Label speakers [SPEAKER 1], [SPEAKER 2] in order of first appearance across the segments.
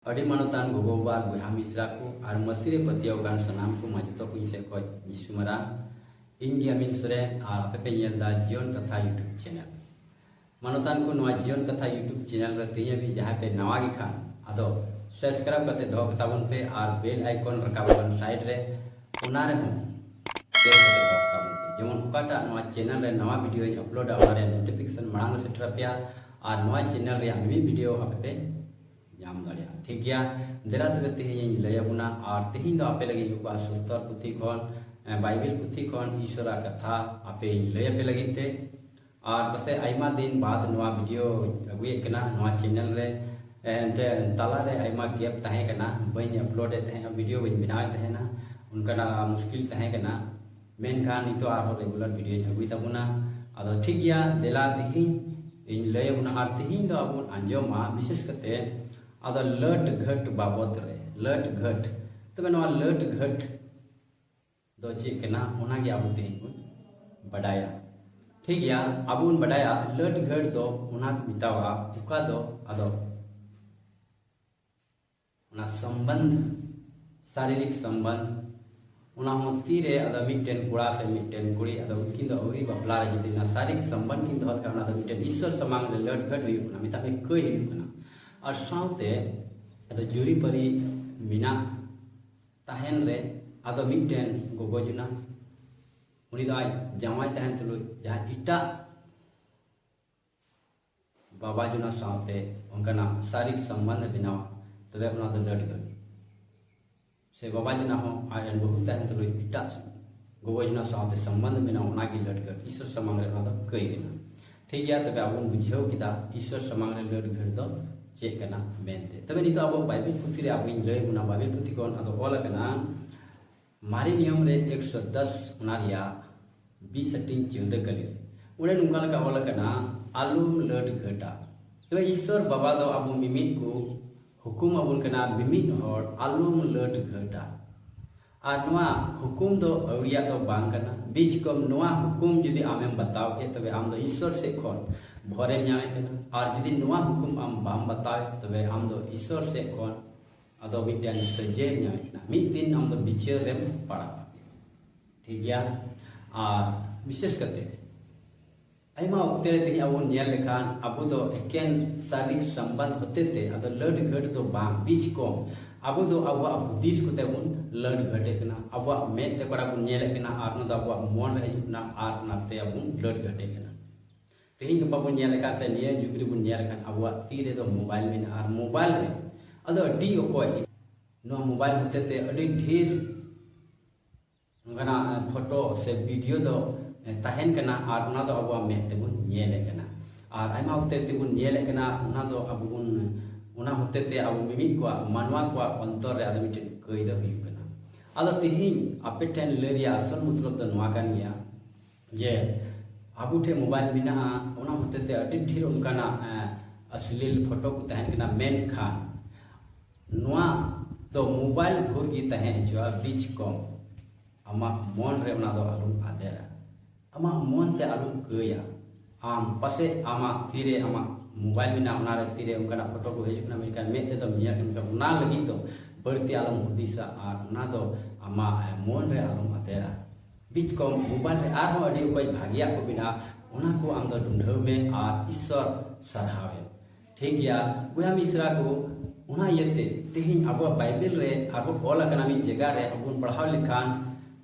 [SPEAKER 1] ᱟᱹᱰᱤ ᱢᱟᱱᱚᱛᱟᱱ ᱜᱚᱜᱚ ᱵᱟᱵᱟ ᱟᱨ ᱵᱚᱭᱦᱟ ᱢᱤᱥᱨᱟ ᱠᱚ ᱟᱨ ᱢᱟᱹᱥᱤ ᱨᱮ ᱯᱟᱹᱛᱭᱟᱹᱣ ᱟᱠᱟᱱ ᱥᱟᱱᱟᱢ ᱠᱚ ᱢᱟᱪᱮᱛᱚ ᱠᱚ ᱤᱧ ᱥᱮᱫ ᱠᱷᱚᱱ ᱡᱤᱥᱩ ᱢᱟᱨᱟᱝ ᱤᱧ ᱜᱮ ᱟᱢᱤᱱ ᱥᱚᱨᱮᱱ ᱟᱨ ᱟᱯᱮ ᱯᱮ ᱧᱮᱞ ᱮᱫᱟ ᱡᱤᱭᱚᱱ ᱠᱟᱛᱷᱟ ᱭᱩᱴᱩᱵᱽ ᱪᱮᱱᱮᱞ ᱢᱟᱱᱚᱛᱟᱱ ᱠᱚ ᱱᱚᱣᱟ ᱡᱤᱭᱚᱱ ᱠᱟᱛᱷᱟ ᱭᱩᱴᱩᱵᱽ ᱪᱮᱱᱮᱞ ᱨᱮ ᱛᱮᱦᱮᱧ ᱦᱟᱹᱵᱤᱡ ᱡᱟᱦᱟᱸᱭ ᱯᱮ ᱱᱟᱣᱟ ᱜᱮ ᱠᱷᱟᱱ ᱟᱫᱚ ᱥᱟᱵᱥᱠᱨᱟᱭᱤᱵᱽ ᱠᱟᱛᱮ ᱫᱚᱦᱚ ᱠᱟᱛᱟ ᱵᱚᱱ ᱯᱮ ᱟᱨ ᱵᱮᱞ ᱟᱭᱠᱚᱱ ᱨᱟᱠᱟᱵ ᱟᱠᱟᱱ ᱥᱟᱭᱤᱰ ᱨᱮ ᱚᱱᱟ ᱨᱮᱦᱚᱸ ᱯᱨᱮᱥ ᱠᱟᱛᱮ ᱫᱚᱦᱚ ᱠᱟᱛᱟ ᱵᱚᱱ ᱯᱮ ᱡᱮᱢᱚᱱ ᱚᱠᱟᱴᱟᱜ ᱱᱚᱣᱟ ᱪᱮᱱᱮᱞ ᱨᱮ ᱱᱟᱣᱟ ᱵᱷᱤᱰᱤᱭᱳ ᱤᱧ ᱟᱯᱞᱳᱰᱟ ᱚᱱᱟ ᱨᱮᱭᱟᱜ ᱱᱳᱴᱤᱯᱷᱤᱠᱮᱥᱚᱱ ᱢᱟᱲᱟᱝ ᱨᱮ ᱥᱮᱴᱮᱨ ᱟᱯᱮᱭᱟ ᱟᱨ ᱱᱚᱣᱟ ᱪᱮᱱᱮᱞ ᱨᱮᱭᱟᱜ ᱢᱤᱢᱤᱫ ᱵᱷᱤᱰᱤᱭᱳ ᱟᱯᱮ ᱯᱮ ᱧᱟᱢ ᱫᱟᱲᱮᱭᱟᱜᱼᱟ ᱴᱷᱤᱠ ᱜᱮᱭᱟ ᱫᱮᱞᱟ ᱛᱚᱵᱮ ᱛᱮᱦᱮᱧᱤᱧ ᱞᱟᱹᱭ ᱟᱵᱚᱱᱟ ᱟᱨ ᱛᱮᱦᱮᱧ ᱫᱚ ᱟᱯᱮ ᱞᱟᱹᱜᱤᱫ ᱜᱚᱯᱟ ᱥᱩᱥᱛᱚᱨ ᱯᱩᱛᱷᱤ ᱠᱷᱚᱱ ᱵᱟᱭᱵᱮᱞ ᱯᱩᱛᱷᱤ ᱠᱷᱚᱱ ᱤᱥᱚᱨᱟᱜ ᱠᱟᱛᱷᱟ ᱟᱯᱮᱧ ᱞᱟᱹᱭ ᱟᱯᱮ ᱞᱟᱹᱜᱤᱫ ᱛᱮ ᱟᱨ ᱯᱟᱥᱮ ᱟᱭᱢᱟ ᱫᱤᱱ ᱵᱟᱫ ᱱᱚᱣᱟ ᱵᱷᱤᱰᱤᱭᱳ ᱟᱹᱜᱩᱭᱮᱫ ᱠᱟᱱᱟ ᱱᱚᱣᱟ ᱪᱮᱱᱮᱞ ᱨᱮ ᱮᱱᱛᱮ ᱛᱟᱞᱟᱨᱮ ᱟᱭᱢᱟ ᱜᱮᱯ ᱛᱟᱦᱮᱸ ᱠᱟᱱᱟ ᱵᱟᱹᱧ ᱟᱯᱞᱳᱰ ᱮᱫ ᱛᱟᱦᱮᱸᱱᱟ ᱵᱷᱤᱰᱤᱭᱳ ᱵᱟᱹᱧ ᱵᱮᱱᱟᱣᱮᱫ ᱛᱟᱦᱮᱸᱱᱟ ᱚᱱᱠᱟᱱᱟᱜ ᱢᱩᱥᱠᱤᱞ ᱛᱟᱦᱮᱸ ᱠᱟᱱᱟ ᱢᱮᱱᱠᱷᱟᱱ ᱱᱤᱛᱚᱜ ᱟᱨᱦᱚᱸ ᱨᱮᱜᱩᱞᱟᱨ ᱵᱷᱤᱰᱤᱭᱳᱧ ᱟᱹᱜᱩᱭ ᱛᱟᱵᱚᱱᱟ ᱟᱫᱚ ᱴᱷᱤᱠ ᱜᱮᱭᱟ ᱫᱮᱞᱟ ᱛᱤᱦᱤᱧ ᱤᱧ ᱞᱟᱹᱭ ᱟᱵᱚᱱᱟ ᱟᱨ ᱛᱤᱦᱤᱧ ᱫᱚ ᱟᱵᱚ ᱟᱸᱡᱚᱢᱟ ᱵᱤᱥᱮᱥ ᱠᱟᱛᱮ ᱟᱫᱚ ᱞᱟᱹᱴ ᱜᱷᱟᱹᱴ ᱵᱟᱵᱚᱫ ᱨᱮ ᱞᱟᱹᱴ ᱜᱷᱟᱹᱴ ᱛᱚᱵᱮ ᱱᱚᱣᱟ ᱞᱟᱹᱴ ᱜᱷᱟᱹᱴ ᱫᱚ ᱪᱮᱫ ᱠᱟᱱᱟ ᱚᱱᱟᱜᱮ ᱟᱵᱚ ᱛᱤᱦᱤᱧ ᱵᱚᱱ ᱵᱟᱰᱟᱭᱟ ᱴᱷᱤᱠ ᱜᱮᱭᱟ ᱟᱵᱚ ᱵᱚᱱ ᱵᱟᱰᱟᱭᱟ ᱞᱟᱹᱴ ᱜᱷᱟᱹᱴ ᱫᱚ ᱚᱱᱟ ᱠᱚ ᱢᱮᱛᱟᱣᱟᱜᱼᱟ ᱚᱠᱟ ᱫᱚ ᱟᱫᱚ ᱚᱱᱟ ᱥᱚᱢᱵᱚᱱᱫᱷ ᱥᱟᱨᱤᱨᱤᱠ ᱥᱚᱢᱵᱚᱱᱫᱷ ᱚᱱᱟ ᱦᱚᱸ ᱛᱤᱨᱮ ᱟᱫᱚ ᱢᱤᱫᱴᱮᱱ ᱠᱚᱲᱟ ᱥᱮ ᱢᱤᱫᱴᱮᱱ ᱠᱩᱲᱤ ᱟᱫᱚ ᱩᱱᱠᱤᱱ ᱫᱚ ᱟᱹᱣᱨᱤ ᱵᱟᱯᱞᱟ ᱨᱮ ᱡᱩᱫᱤ ᱚᱱᱟ ᱥᱟᱨᱤᱨᱤᱠ ᱥᱚᱢᱵᱚᱱᱫᱷ ᱠᱤᱱ ᱫᱚᱦᱚ ᱞᱮᱠᱷᱟᱱ ᱚᱱᱟ ᱫᱚ ᱢᱤᱫᱴᱮᱱ ᱤᱥᱥᱚᱨ ᱥᱟᱢᱟᱝ ᱨᱮ ᱞᱟᱹᱴ ᱜᱷᱟᱹᱴ ᱦᱩᱭᱩᱜ ᱠᱟᱱᱟ ᱢᱮᱛᱟᱜ ᱢᱮ ᱠᱟᱹᱭ ᱦᱩᱭᱩᱜ ᱠᱟᱱᱟ ᱟᱨ ᱥᱟᱶᱛᱮ ᱟᱫᱚ ᱡᱩᱨᱤᱯᱟᱹᱨᱤ ᱢᱮᱱᱟᱜ ᱛᱟᱦᱮᱱ ᱨᱮ ᱟᱫᱚ ᱢᱤᱫᱴᱮᱱ ᱜᱚᱜᱚ ᱡᱚᱱᱟ ᱩᱱᱤ ᱫᱚ ᱟᱡ ᱡᱟᱶᱟᱭ ᱛᱟᱦᱮᱱ ᱛᱩᱞᱩᱡ ᱡᱟᱦᱟᱸ ᱮᱴᱟᱜ ᱵᱟᱵᱟ ᱡᱚᱱᱟ ᱥᱟᱶᱛᱮ ᱚᱱᱠᱟᱱᱟᱜ ᱥᱟᱨᱤᱠ ᱥᱚᱢᱵᱚᱱᱫᱷ ᱵᱮᱱᱟᱣ ᱛᱚᱵᱮ ᱚᱱᱟ ᱫᱚ ᱞᱟᱹᱰ ᱜᱮ ᱥᱮ ᱵᱟᱵᱟ ᱡᱚᱱᱟ ᱦᱚᱸ ᱟᱡ ᱨᱮᱱ ᱵᱟᱹᱦᱩ ᱛᱟᱦᱮᱱ ᱛᱩᱞᱩᱡ ᱮᱴᱟᱜ ᱜᱚᱜᱚ ᱡᱚᱱᱟ ᱥᱟᱶᱛᱮ ᱥᱚᱢᱵᱚᱱᱫᱷ ᱵᱮᱱᱟᱣ ᱚᱱᱟ ᱜᱮ ᱞᱟᱹᱰ ᱜᱮ ᱤᱥᱚᱨ ᱥᱟᱢᱟᱝ ᱨᱮ ᱚᱱᱟ ᱫᱚ ᱠᱟᱹᱭ ᱠᱟᱱᱟ ᱴᱷᱤᱠ ᱜᱮᱭᱟ ᱛᱚᱵᱮ ᱟᱵᱚ ᱵᱩᱡᱷᱟᱹᱣ ᱠᱮᱫᱟ ᱤᱥᱚᱨ ᱥᱟᱢᱟᱝ ᱨᱮ ᱞᱟᱹᱰ ᱜᱷᱟᱹᱲ ᱫᱚ ᱪᱮᱫ ᱠᱟᱱᱟ ᱢᱮᱱᱛᱮ ᱛᱚᱵᱮ ᱱᱤᱛᱚᱜ ᱟᱵᱚ ᱵᱟᱭᱵᱤᱞ ᱯᱩᱛᱷᱤ ᱨᱮ ᱟᱵᱚᱧ ᱞᱟᱹᱭ ᱵᱚᱱᱟ ᱵᱟᱭᱵᱤᱞ ᱯᱩᱛᱷᱤ ᱠᱷᱚᱱ ᱟᱫᱚ ᱚᱞ ᱟᱠᱟᱱᱟ ᱢᱟᱨᱮ ᱱᱤᱭᱚᱢ ᱨᱮ ᱮᱠᱥᱚ ᱫᱚᱥ ᱚᱱᱟ ᱨᱮᱭᱟᱜ ᱵᱤᱥ ᱦᱟᱹᱴᱤᱧ ᱪᱤᱱᱛᱟᱹ ᱠᱟᱹᱞᱤ ᱚᱸᱰᱮ ᱱᱚᱝᱠᱟ ᱞᱮᱠᱟ ᱚᱞ ᱟᱠᱟᱱᱟ ᱟᱞᱚᱢ ᱞᱟᱹᱰ ᱜᱷᱟᱹᱴᱟ ᱛᱚᱵᱮ ᱤᱥᱥᱚᱨ ᱵᱟᱵᱟ ᱫᱚ ᱟᱵᱚ ᱢᱤᱢᱤᱫ ᱠᱚ ᱦᱩᱠᱩᱢ ᱟᱵᱚᱱ ᱠᱟᱱᱟ ᱢᱤᱢᱤᱫ ᱦᱚᱲ ᱟᱞᱚᱢ ᱞᱟᱹᱰ ᱜᱷᱟᱹᱴᱟ ᱟᱨ ᱱᱚᱣᱟ ᱦᱩᱠᱩᱢ ᱫᱚ ᱟᱹᱣᱲᱤᱭᱟᱜ ᱫᱚ ᱵᱟᱝ ᱠᱟᱱᱟ ᱵᱤᱡ ᱠᱚᱢ ᱱᱚᱣᱟ ᱦᱩᱠᱩᱢ ᱡᱩᱫᱤ ᱟᱢᱮᱢ ᱵᱟᱛᱟᱣ ᱠᱮᱫ ᱛᱚᱵᱮ ᱟᱢ ᱫᱚ ᱤᱥᱥᱚᱨ ᱥᱮᱫ ᱠᱷᱚᱱ ᱵᱷᱚᱨᱮᱢ ᱧᱟᱢᱮᱫ ᱠᱟᱱᱟ ᱟᱨ ᱡᱩᱫᱤ ᱱᱚᱣᱟ ᱦᱩᱠᱩᱢ ᱟᱢ ᱵᱟᱢ ᱵᱟᱛᱟᱣ ᱛᱚᱵᱮ ᱟᱢ ᱫᱚ ᱤᱥᱥᱚᱨ ᱥᱮᱫ ᱠᱷᱚᱱ ᱟᱫᱚ ᱢᱤᱫᱴᱮᱱ ᱥᱚᱡᱮ ᱧᱟᱢ ᱮᱱᱟ ᱢᱤᱫ ᱫᱤᱱ ᱟᱢ ᱫᱚ ᱵᱤᱪᱟᱹᱨ ᱨᱮᱢ ᱯᱟᱲᱟᱜᱼᱟ ᱴᱷᱤᱠ ᱜᱮᱭᱟ ᱟᱨ ᱵᱤᱥᱮᱥ ᱠᱟᱛᱮ ᱟᱭᱢᱟ ᱚᱠᱛᱮ ᱨᱮ ᱛᱮᱦᱮᱧ ᱟᱵᱚ ᱧᱮᱞ ᱞᱮᱠᱷᱟᱱ ᱟᱵᱚ ᱫᱚ ᱮᱠᱮᱱ ᱥᱟᱨᱤᱠ ᱥᱟᱢᱵᱟᱫ ᱦᱚᱛᱮ ᱛᱮ ᱟᱫᱚ ᱞᱟᱹᱰ ᱜᱷᱟᱹᱴ ᱫᱚ ᱵᱟᱝ ᱵᱤᱪ ᱠᱚᱢ ᱟᱵᱚ ᱫᱚ ᱟᱵᱚᱣᱟᱜ ᱦᱩᱫᱤᱥ ᱠᱚᱛᱮ ᱵᱚᱱ ᱞᱟᱹᱰ ᱜᱷᱟᱹᱴᱮ ᱠᱟᱱᱟ ᱟᱵᱚᱣᱟᱜ ᱢᱮᱫ ᱛᱮ ᱠᱚᱲᱟ ᱵᱚᱱ ᱧᱮᱞᱮ ᱠᱟᱱᱟ ᱟᱨ ᱚᱱᱟ ᱫᱚ ᱟᱵᱚᱣᱟᱜ ᱢᱚᱱ ᱨᱮ ᱦᱤᱡᱩᱜ ᱠᱟᱱᱟ ᱟᱨ ᱚᱱᱟᱛᱮ ᱟᱵᱚ ᱞᱟᱹᱰ ᱜᱷᱟᱹᱴᱮ ᱠᱟᱱᱟ ᱛᱮᱦᱮᱧ ᱜᱟᱯᱟ ᱵᱚᱱ ᱧᱮᱞ ᱟᱠᱟᱫ ᱥᱮ ᱱᱤᱭᱟᱹ ᱡᱩᱜᱽ ᱨᱮᱵᱚᱱ ᱧᱮᱞ ᱟᱠᱟᱫ ᱟᱵᱚᱣᱟᱜ ᱛᱤ ᱨᱮᱫᱚ ᱢᱳᱵᱟᱭᱤᱞ ᱢᱮᱱᱟᱜᱼᱟ ᱟᱨ ᱢᱳᱵᱟᱭᱤᱞ ᱨᱮ ᱟᱫᱚ ᱟᱹᱰᱤ ᱚᱠᱚᱭ ᱱᱚᱣᱟ ᱢᱳᱵᱟᱭᱤᱞ ᱦᱚᱛᱮ ᱛᱮ ᱟᱹᱰᱤ ᱰᱷᱮᱨ ᱚᱱᱠᱟᱱᱟᱜ ᱯᱷᱳᱴᱳ ᱥᱮ ᱵᱷᱤᱰᱤᱭᱳ ᱫᱚ ᱛᱟᱦᱮᱱ ᱠᱟᱱᱟ ᱟᱨ ᱚᱱᱟ ᱫᱚ ᱟᱵᱚᱣᱟᱜ ᱢᱮᱫ ᱛᱮᱵᱚᱱ ᱧᱮᱞᱮᱫ ᱠᱟᱱᱟ ᱟᱨ ᱟᱭᱢᱟ ᱦᱚᱛᱮ ᱛᱮᱵᱚᱱ ᱧᱮᱞᱮᱫ ᱠᱟᱱᱟ ᱚᱱᱟ ᱫᱚ ᱟᱵᱚ ᱵᱚᱱ ᱚᱱᱟ ᱦᱚᱛᱮ ᱛᱮ ᱟᱵᱚ ᱢᱤᱢᱤᱫ ᱠᱚᱣᱟᱜ ᱢᱟᱱᱣᱟ ᱠᱚᱣᱟᱜ ᱚᱱᱛᱚᱨ ᱨᱮ ᱟᱫᱚ ᱢᱤᱫᱴᱮᱱ ᱠᱟᱹᱭᱫᱟ ᱦᱩᱭᱩᱜ ᱠᱟᱱᱟ ᱟᱫᱚ ᱛᱮᱦᱮᱧ ᱟᱯᱮ ᱴᱷᱮᱱ ᱞᱟᱹᱭ ᱨᱮᱭᱟᱜ ᱟᱥᱚᱞ ᱢᱚᱛᱞᱚᱵ ᱫᱚ ᱱᱚᱣᱟ ᱠᱟᱱ ᱜᱮᱭᱟ ᱡᱮ ᱟᱵᱚ ᱴᱷᱮᱱ ᱢᱳᱵᱟᱭᱤᱞ ᱢᱮᱱᱟᱜᱼᱟ ᱚᱱᱟ ᱦᱚᱛᱮ ᱛᱮ ᱟᱹᱰᱤ ᱰᱷᱮᱨ ᱚᱱᱠᱟᱱᱟᱜ ᱟᱥᱞᱤᱞ ᱯᱷᱳᱴᱳ ᱠᱚ ᱛᱟᱦᱮᱱ ᱠᱟᱱᱟ ᱢᱮᱱᱠᱷᱟᱱ ᱱᱚᱣᱟ ᱫᱚ ᱢᱳᱵᱟᱭᱤᱞ ᱵᱷᱳᱨ ᱜᱮ ᱛᱟᱦᱮᱸ ᱦᱚᱪᱚᱜᱼᱟ ᱵᱤᱪ ᱠᱚᱢ ᱟᱢᱟᱜ ᱢᱚᱱ ᱨᱮ ᱚᱱᱟ ᱫᱚ ᱟᱞᱚᱢ ᱟᱫᱮᱨᱟ ᱟᱢᱟᱜ ᱢᱚᱱ ᱛᱮ ᱟᱞᱚᱢ ᱠᱟᱹᱭᱟ ᱟᱢ ᱯᱟᱥᱮ ᱟᱢᱟᱜ ᱛᱤᱨᱮ ᱟᱢᱟᱜ ᱢᱳᱵᱟᱭᱤᱞ ᱢᱮᱱᱟᱜᱼᱟ ᱚᱱᱟᱨᱮ ᱛᱤᱨᱮ ᱚᱱᱠᱟᱱᱟᱜ ᱯᱷᱳᱴᱳ ᱠᱚ ᱦᱤᱡᱩᱜ ᱠᱟᱱᱟ ᱢᱮᱱᱠᱷᱟᱱ ᱢᱮᱫ ᱛᱮᱫᱚᱢ ᱧᱮᱞ ᱠᱟᱱᱟ ᱚᱱᱟ ᱞᱟᱹᱜᱤᱫ ᱫᱚ ᱵᱟᱹᱲᱛᱤ ᱟᱞᱚᱢ ᱦᱩᱫᱤᱥᱟ ᱟᱨ ᱚᱱᱟ ᱫᱚ ᱟᱢᱟᱜ ᱢᱚᱱ ᱨᱮ ᱟᱞᱚᱢ ᱟᱫᱮᱨᱟ ᱵᱤᱪᱠᱚᱢ ᱢᱳᱵᱟᱭᱤᱞ ᱨᱮ ᱟᱨᱦᱚᱸ ᱟᱹᱰᱤ ᱚᱠᱚᱭ ᱵᱷᱟᱜᱮᱭᱟᱜ ᱠᱚ ᱢᱮᱱᱟᱜᱼᱟ ᱚᱱᱟ ᱠᱚ ᱟᱢ ᱫᱚ ᱰᱩᱸᱰᱷᱟᱹᱣ ᱢᱮ ᱟᱨ ᱤᱥᱥᱚᱨ ᱥᱟᱨᱦᱟᱣ ᱮᱢ ᱴᱷᱤᱠ ᱜᱮᱭᱟ ᱵᱚᱭᱦᱟ ᱢᱤᱥᱨᱟ ᱠᱚ ᱚᱱᱟ ᱤᱭᱟᱹᱛᱮ ᱛᱮᱦᱮᱧ ᱟᱵᱚᱣᱟᱜ ᱵᱟᱭᱵᱮᱞ ᱨᱮ ᱟᱨᱦᱚᱸ ᱚᱞ ᱟᱠᱟᱱᱟ ᱢᱤᱫ ᱡᱟᱭᱜᱟ ᱨᱮ ᱟᱵᱚ ᱵᱚᱱ ᱯᱟᱲᱦᱟᱣ ᱞᱮᱠᱷᱟᱱ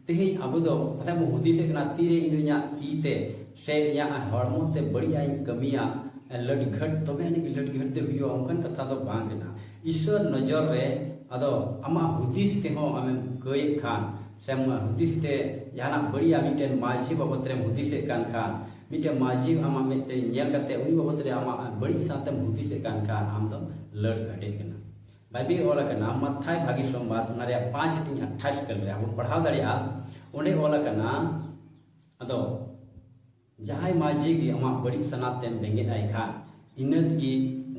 [SPEAKER 1] ᱛᱮᱦᱮᱧ ᱟᱵᱚ ᱫᱚ ᱯᱟᱥᱮᱡ ᱵᱚᱱ ᱦᱩᱫᱤᱥᱮᱫ ᱠᱟᱱᱟ ᱛᱤᱨᱮ ᱤᱧ ᱫᱚ ᱤᱧᱟᱹᱜ ᱛᱤ ᱛᱮ ᱥᱮ ᱤᱧᱟᱹᱜ ᱦᱚᱲᱢᱚ ᱛᱮ ᱵᱟᱹᱲᱤᱡᱟᱜ ᱤᱧ ᱠᱟᱹᱢᱤᱭᱟ ᱞᱟᱹᱰᱜᱷᱟᱹᱴ ᱛᱚᱵᱮ ᱟᱹᱱᱤᱡ ᱜᱮ ᱞᱟᱹᱰᱜᱷᱟᱹᱴ ᱫᱚ ᱦᱩᱭᱩᱜᱼᱟ ᱚᱱᱠᱟᱱ ᱠᱟᱛᱷᱟ ᱫᱚ ᱵᱟᱝ ᱠᱟᱱᱟ ᱤᱥᱥᱚᱨ ᱱᱚᱡᱚᱨ ᱨᱮ ᱟᱫᱚ ᱟᱢᱟᱜ ᱦᱩᱫᱤᱥ ᱛᱮᱦᱚᱸ ᱟᱢᱮᱢ ᱠᱟᱹᱭᱮᱫ ᱠᱷᱟᱱ ᱥᱮᱢ ᱦᱩᱫᱤᱥ ᱛᱮ ᱡᱟᱦᱟᱱᱟᱜ ᱵᱟᱹᱲᱤᱡᱟᱜ ᱢᱤᱫᱴᱮᱱ ᱢᱟᱹᱡᱷᱤ ᱵᱟᱵᱚᱛ ᱨᱮᱢ ᱦᱩᱫᱤᱥᱮᱫ ᱠᱟᱱ ᱠᱷᱟᱱ ᱢᱤᱫᱴᱮᱱ ᱢᱟᱹᱡᱷᱤ ᱟᱢᱟᱜ ᱢᱮᱫ ᱛᱮ ᱧᱮᱞ ᱠᱟᱛᱮ ᱩᱱᱤ ᱵᱟᱵᱚᱛ ᱨᱮ ᱟᱢᱟᱜ ᱵᱟᱹᱲᱤᱡ ᱥᱟᱶᱛᱮᱢ ᱦᱩᱫᱤᱥᱮᱫ ᱠᱟᱱ ᱠᱷᱟᱱ ᱟᱢ ᱫᱚ ᱞᱟᱹᱲ ᱜᱷᱟᱹᱴᱮᱡ ᱠᱟᱱᱟ ᱵᱟᱭᱵᱤ ᱚᱞ ᱟᱠᱟᱱᱟ ᱢᱟᱛᱷᱟᱭ ᱵᱷᱟᱜᱤ ᱥᱚᱢᱵᱟᱫ ᱚᱱᱟ ᱨᱮᱭᱟᱜ ᱯᱟᱸᱪ ᱦᱟᱹᱴᱤᱧ ᱟᱴᱷᱟᱥ ᱠᱟᱞ ᱨᱮ ᱟᱵᱚ ᱯᱟᱲᱦᱟᱣ ᱫᱟᱲᱮᱭᱟᱜᱼᱟ ᱚᱸᱰᱮ ᱚᱞ ᱟᱠᱟᱱᱟ ᱟᱫᱚ ᱡᱟᱦᱟᱸᱭ ᱢᱟᱹᱡᱷᱤ ᱜᱮ ᱟᱢᱟᱜ ᱵᱟᱹᱲᱤᱡ ᱥᱟᱱᱟᱛ ᱛᱮᱢ ᱵᱮᱸᱜᱮᱫ ᱟᱭ ᱠᱷᱟᱱ ᱤᱱᱟᱹ ᱛᱮᱜᱮ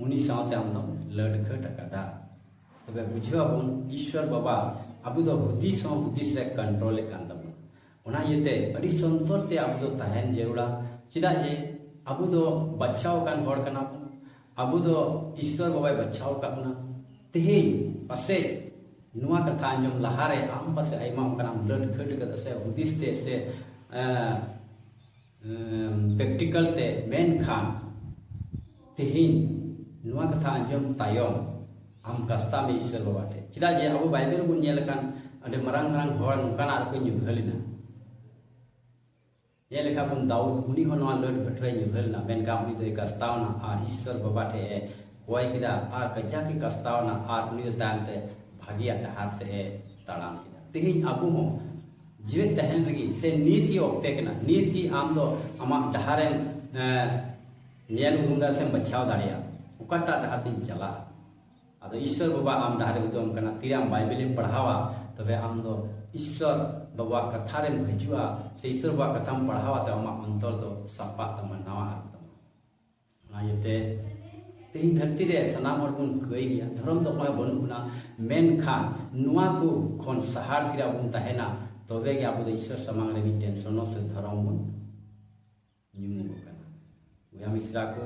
[SPEAKER 1] ᱩᱱᱤ ᱥᱟᱶᱛᱮ ᱟᱢ ᱫᱚᱢ ᱞᱟᱹᱰᱠᱷᱟᱹᱴ ᱟᱠᱟᱫᱟ ᱛᱚᱵᱮ ᱵᱩᱡᱷᱟᱹᱣ ᱟᱵᱚᱱ ᱤᱥᱣᱚᱨ ᱵᱟᱵᱟ ᱟᱵᱚ ᱫᱚ ᱦᱩᱫᱤᱥ ᱦᱚᱸ ᱦᱩᱫᱤᱥ ᱨᱮ ᱠᱚᱱᱴᱨᱳᱞᱮᱫ ᱠᱟᱱ ᱛᱟᱵᱚᱱᱟ ᱚᱱᱟ ᱤᱭᱟᱹᱛᱮ ᱟᱹᱰᱤ ᱥᱚᱱᱛᱚᱨ ᱛᱮ ᱟᱵᱚ ᱫᱚ ᱛᱟᱦᱮᱱ ᱡᱟᱹᱨᱩᱲᱟ ᱪᱮᱫᱟᱜ ᱡᱮ ᱟᱵᱚ ᱫᱚ ᱵᱟᱪᱷᱟᱣ ᱟᱠᱟᱱ ᱦᱚᱲ ᱠᱟᱱᱟ ᱵᱚᱱ ᱟᱵᱚ ᱫᱚ ᱤᱥᱚᱨ ᱵᱟᱵᱟᱭ ᱵᱟᱪᱷᱟᱣ ᱟᱠᱟᱫ ᱵᱚᱱᱟ ᱛᱮᱦᱮᱧ ᱯᱟᱥᱮᱡ ᱱᱚᱣᱟ ᱠᱟᱛᱷᱟ ᱟᱸᱡᱚᱢ ᱞᱟᱦᱟᱨᱮ ᱟᱢ ᱯᱟᱥᱮᱡ ᱟᱭᱢᱟ ᱚᱱᱠᱟᱱᱟᱜ ᱞᱟᱹᱴ ᱠᱷᱟᱹᱴ ᱠᱟᱛᱮ ᱥᱮ ᱦᱩᱫᱤᱥ ᱛᱮ ᱥᱮ ᱯᱨᱮᱠᱴᱤᱠᱟᱞ ᱛᱮ ᱢᱮᱱᱠᱷᱟᱱ ᱛᱮᱦᱮᱧ ᱱᱚᱣᱟ ᱠᱟᱛᱷᱟ ᱟᱸᱡᱚᱢ ᱛᱟᱭᱚᱢ ᱟᱢ ᱠᱟᱥᱛᱟ ᱢᱮ ᱤᱥᱚᱨ ᱵᱟᱵᱟ ᱴᱷᱮᱱ ᱪᱮᱫᱟᱜ ᱡᱮ ᱟᱵᱚ ᱵᱟᱭᱵᱮᱞ ᱵᱚᱱ ᱧᱮᱞ ᱞᱮᱠᱷᱟᱱ ᱟᱹᱰᱤ ᱢᱟᱨᱟᱝ ᱢᱟᱨᱟᱝ ᱦᱚᱲ ᱱᱚᱝᱠᱟᱱᱟᱜ ᱨᱮᱠᱚ ᱧᱩᱨᱦᱟᱹ ᱞᱮᱱᱟ ᱧᱮᱞ ᱞᱮᱠᱷᱟᱱ ᱵᱚᱱ ᱫᱟᱣᱩᱫ ᱩᱱᱤ ᱦᱚᱸ ᱱᱚᱣᱟ ᱞᱟᱹᱰ ᱜᱷᱟᱹᱴᱨᱟᱹᱭ ᱧᱩᱨᱦᱟᱹ ᱞᱮᱱᱟ ᱢᱮᱱᱠᱷᱟᱱ ᱩᱱᱤ ᱫᱚᱭ ᱠᱟᱥᱛᱟᱣᱱᱟ ᱟᱨ ᱤᱥᱥᱚᱨ ᱵᱟᱵᱟ ᱴᱷᱮᱱ ᱮ ᱠᱚᱭ ᱠᱮᱫᱟ ᱟᱨ ᱠᱟᱡᱟᱠ ᱮ ᱠᱟᱥᱛᱟᱣᱱᱟ ᱟᱨ ᱩᱱᱤ ᱫᱚ ᱛᱟᱭᱚᱢ ᱛᱮ ᱵᱷᱟᱹᱜᱤᱭᱟᱜ ᱰᱟᱦᱟᱨ ᱥᱮᱫ ᱮ ᱛᱟᱲᱟᱢ ᱠᱮᱫᱟ ᱛᱮᱦᱮᱧ ᱟᱵᱚ ᱦᱚᱸ ᱡᱤᱣᱮᱫ ᱛᱟᱦᱮᱱ ᱨᱮᱜᱮ ᱥᱮ ᱱᱤᱛ ᱜᱮ ᱚᱠᱛᱮ ᱠᱟᱱᱟ ᱱᱤᱛ ᱜᱮ ᱟᱢ ᱫᱚ ᱟᱢᱟᱜ ᱰᱟᱦᱟᱨᱮᱢ ᱧᱮᱞ ᱩᱨᱩᱢ ᱫᱟᱲᱮᱭᱟᱜᱼᱟ ᱥᱮᱢ ᱵᱟᱪᱷᱟᱣ ᱫᱟᱲᱮᱭᱟᱜᱼᱟ ᱚᱠᱟᱴᱟᱜ ᱰᱟᱦᱟᱨ ᱛᱤᱧ ᱪᱟᱞᱟᱜᱼᱟ ᱟᱫᱚ ᱤᱥᱥᱚᱨ ᱵᱟᱵᱟ ᱟᱢ ᱰᱟᱦᱟᱨᱮ ᱩᱫᱩᱜ ᱟᱢ ᱠᱟᱱᱟ ᱛᱤᱨᱮ ᱟᱢ ᱵᱟᱭᱵᱮᱞᱮᱢ ᱯᱟᱲᱦᱟᱣᱟ ᱛᱚᱵᱮ ᱟᱢ ᱫᱚ ᱤᱥᱥᱚᱨ ᱵᱟᱵᱟ ᱠᱟᱛᱷᱟ ᱨᱮᱢ ᱦᱤᱡᱩᱜᱼᱟ ᱥᱮ ᱤᱥᱥᱚᱨ ᱵᱟᱵᱟ ᱠᱟᱛᱷᱟᱢ ᱯᱟᱲᱦᱟᱣᱟ ᱛᱚ ᱟᱢᱟᱜ ᱚᱱᱛᱚᱨ ᱫᱚ ᱥᱟᱯᱟᱜ ᱛᱟᱢᱟ ᱱᱟᱣᱟ ᱟᱨ ᱛᱟᱢᱟ ᱚᱱᱟ ᱤᱭᱟᱹᱛᱮ ᱛᱮᱦᱮᱧ ᱫᱷᱟᱹᱨᱛᱤ ᱨᱮ ᱥᱟᱱᱟᱢ ᱦᱚᱲ ᱵᱚᱱ ᱠᱟᱹᱭ ᱜᱮᱭᱟ ᱫᱷᱚᱨᱚᱢ ᱫᱚ ᱚᱠᱚᱭ ᱵᱟᱹᱱᱩᱜ ᱵᱚᱱᱟ ᱢᱮᱱᱠᱷᱟᱱ ᱱᱚᱣᱟ ᱠᱚ ᱠᱷᱚᱱ ᱥᱟᱦᱟᱨ ᱛᱤᱨᱮ ᱟᱵᱚ ᱵᱚᱱ ᱛᱟᱦᱮᱱᱟ ᱛᱚᱵᱮ ᱜᱮ ᱟᱵᱚ ᱫᱚ ᱤᱥᱥᱚᱨ ᱥᱟᱢᱟᱝ ᱨᱮ ᱢᱤᱫᱴᱮᱱ ᱥᱚᱱᱚ ᱥᱮ ᱫᱷᱚᱨᱚᱢ ᱵᱚᱱ ᱧᱩᱢᱚᱜᱚᱜ ᱠᱟᱱᱟ ᱵᱚᱭᱦᱟ ᱢᱤᱥᱨᱟ ᱠᱚ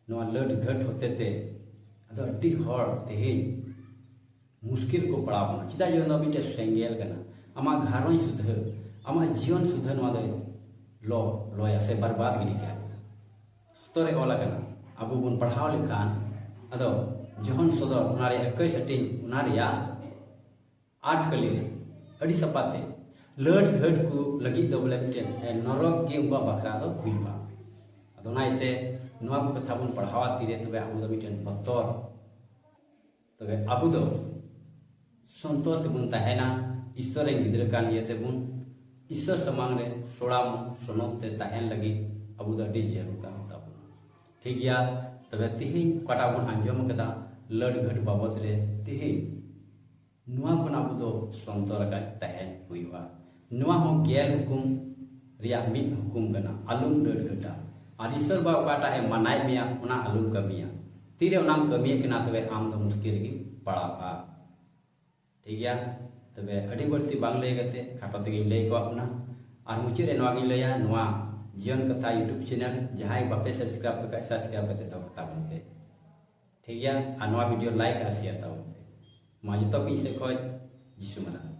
[SPEAKER 1] ᱱᱚᱣᱟ ᱞᱟᱹᱰ ᱜᱷᱟᱹᱴ ᱦᱚᱛᱮ ᱛᱮ ᱟᱫᱚ ᱟᱹᱰᱤ ᱦᱚᱲ ᱛᱮᱦᱮᱧ ᱢᱩᱥᱠᱤᱞ ᱠᱚ ᱯᱟᱲᱟᱣ ᱠᱟᱱᱟ ᱪᱮᱫᱟᱜ ᱡᱮ ᱱᱚᱣᱟ ᱢᱤᱫᱴᱮᱱ ᱥᱮᱸᱜᱮᱞ ᱠᱟᱱᱟ ᱟᱢᱟᱜ ᱜᱷᱟᱨᱚᱸᱡᱽ ᱥᱩᱫᱷᱟᱹ ᱟᱢᱟᱜ ᱡᱤᱭᱚᱱ ᱥᱩᱫᱷᱟᱹ ᱱᱚᱣᱟ ᱫᱚ ᱞᱚ ᱞᱚᱭᱟ ᱥᱮ ᱵᱟᱨᱵᱟᱫ ᱜᱤᱰᱤ ᱠᱟᱜᱼᱟ ᱥᱚᱛᱚ ᱨᱮ ᱚᱞ ᱟᱠᱟᱱᱟ ᱟᱵᱚ ᱵᱚᱱ ᱯᱟᱲᱦᱟᱣ ᱞᱮᱠᱷᱟᱱ ᱟᱫᱚ ᱡᱚᱦᱚᱱ ᱥᱚᱫᱚᱨ ᱚᱱᱟ ᱨᱮᱭᱟᱜ ᱮᱠᱟᱹᱭ ᱥᱮᱴᱤᱝ ᱚᱱᱟ ᱨᱮᱭᱟᱜ ᱟᱨᱴ ᱠᱟᱹᱞᱤ ᱟᱹᱰᱤ ᱥᱟᱯᱟᱛᱮ ᱞᱟᱹᱴ ᱜᱷᱟᱹᱴ ᱠᱚ ᱞᱟᱹᱜᱤᱫ ᱫᱚ ᱵᱚᱞᱮ ᱢᱤᱫᱴᱮᱱ ᱱᱚᱨᱚᱠ ᱜᱮ ᱩᱱᱠᱩᱣᱟᱜ ᱵᱟᱠᱷᱨᱟ ᱫᱚ ᱦᱩᱭᱩᱜᱼᱟ ᱟᱫᱚ ᱚᱱᱟ ᱤᱭᱟᱹᱛᱮ ᱱᱚᱣᱟ ᱠᱚ ᱠᱟᱛᱷᱟ ᱵᱚᱱ ᱯᱟᱲᱦᱟᱣᱟ ᱛᱤᱨᱮ ᱛᱚᱵᱮ ᱟᱵᱚ ᱫᱚ ᱢᱤᱫᱴᱮᱱ ᱵᱚᱛᱚᱨ ᱛᱚᱵᱮ ᱟᱵᱚ ᱫᱚ ᱥᱚᱱᱛᱚᱨ ᱛᱮᱵᱚᱱ ᱛᱟᱦᱮᱱᱟ ᱤᱥᱛᱚᱨ ᱨᱮᱱ ᱜᱤᱫᱽᱨᱟᱹ ᱠᱟᱱ ᱤᱭᱟᱹ ᱛᱮᱵᱚᱱ ᱤᱥᱛᱚᱨ ᱥᱟᱢᱟᱝ ᱨᱮ ᱥᱚᱲᱟᱢ ᱥᱚᱱᱚᱛ ᱛᱮ ᱛᱟᱦᱮᱱ ᱞᱟᱹᱜᱤᱫ ᱟᱵᱚ ᱫᱚ ᱟᱹᱰᱤ ᱡᱟᱹᱨᱩᱲ ᱠᱟᱱ ᱛᱟᱵᱚᱱᱟ ᱴᱷᱤᱠ ᱜᱮᱭᱟ ᱛᱚᱵᱮ ᱛᱤᱦᱤᱧ ᱚᱠᱟᱴᱟᱜ ᱵᱚᱱ ᱟᱸᱡᱚᱢ ᱟᱠᱟᱫᱟ ᱞᱟᱹᱰ ᱜᱷᱟᱹᱴ ᱵᱟᱵᱚᱫ ᱨᱮ ᱛᱤᱦᱤᱧ ᱱᱚᱣᱟ ᱠᱷᱚᱱ ᱟᱵᱚ ᱫᱚ ᱥᱚᱱᱛᱚᱨ ᱟᱠᱟᱫ ᱛᱟᱦᱮᱸ ᱦᱩᱭᱩᱜᱼᱟ ᱱᱚᱣᱟ ᱦᱚᱸ ᱜᱮᱞ ᱦᱩᱠᱩᱢ ᱨᱮᱭᱟᱜ ᱢᱤᱫ ᱦᱩᱠᱩᱢ ᱠᱟᱱᱟ ᱟᱞᱚᱢ ᱞᱟᱹᱰ ᱜᱷᱟᱹᱴᱟ ᱟᱨ ᱤᱥᱚᱨ ᱵᱟ ᱚᱠᱟᱴᱟᱜ ᱮ ᱢᱟᱱᱟᱭ ᱢᱮᱭᱟ ᱚᱱᱟ ᱟᱞᱚᱢ ᱠᱟᱹᱢᱤᱭᱟ ᱛᱤᱨᱮ ᱚᱱᱟᱢ ᱠᱟᱹᱢᱤᱭᱮᱫ ᱠᱟᱱᱟ ᱛᱚᱵᱮ ᱟᱢ ᱫᱚ ᱢᱩᱥᱠᱤᱞ ᱨᱮᱜᱮ ᱯᱟᱲᱟᱜᱼᱟ ᱴᱷᱤᱠ ᱜᱮᱭᱟ ᱛᱚᱵᱮ ᱟᱹᱰᱤ ᱵᱟᱹᱲᱛᱤ ᱵᱟᱝ ᱞᱟᱹᱭ ᱠᱟᱛᱮ ᱠᱷᱟᱴᱚ ᱛᱮᱜᱮᱧ ᱞᱟᱹᱭ ᱠᱚᱣᱟᱜ ᱵᱚᱱᱟ ᱟᱨ ᱢᱩᱪᱟᱹᱫ ᱨᱮ ᱱᱚᱣᱟ ᱜᱤᱧ ᱞᱟᱹᱭᱟ ᱱᱚᱣᱟ ᱡᱤᱭᱚᱱ ᱠᱟᱛᱷᱟ ᱤᱭᱩᱴᱩᱵᱽ ᱪᱮᱱᱮᱞ ᱡᱟᱦᱟᱸᱭ ᱵᱟᱯᱮ ᱥᱟᱵᱥᱠᱨᱟᱭᱤᱵᱽ ᱠᱟᱜ ᱥᱟᱵᱥᱠᱨᱟᱭᱤᱵᱽ ᱠᱟᱛᱮ ᱫᱚᱦᱚ ᱠᱟᱛᱟ ᱵᱚᱱ ᱯᱮ ᱴᱷᱤᱠ ᱜᱮᱭᱟ ᱟᱨ ᱱᱚᱣᱟ ᱵᱷᱤᱰᱤᱭᱳ ᱞᱟᱭᱤᱠ ᱟᱨ ᱥᱮᱭᱟᱨ ᱛᱟᱵᱚᱱ ᱯᱮ ᱢᱟ ᱡᱚᱛᱚ ᱠᱚ ᱤᱧ ᱥᱮᱫ ᱠᱷᱚᱱ ᱡᱤᱥᱩ ᱢᱟᱱᱟᱣ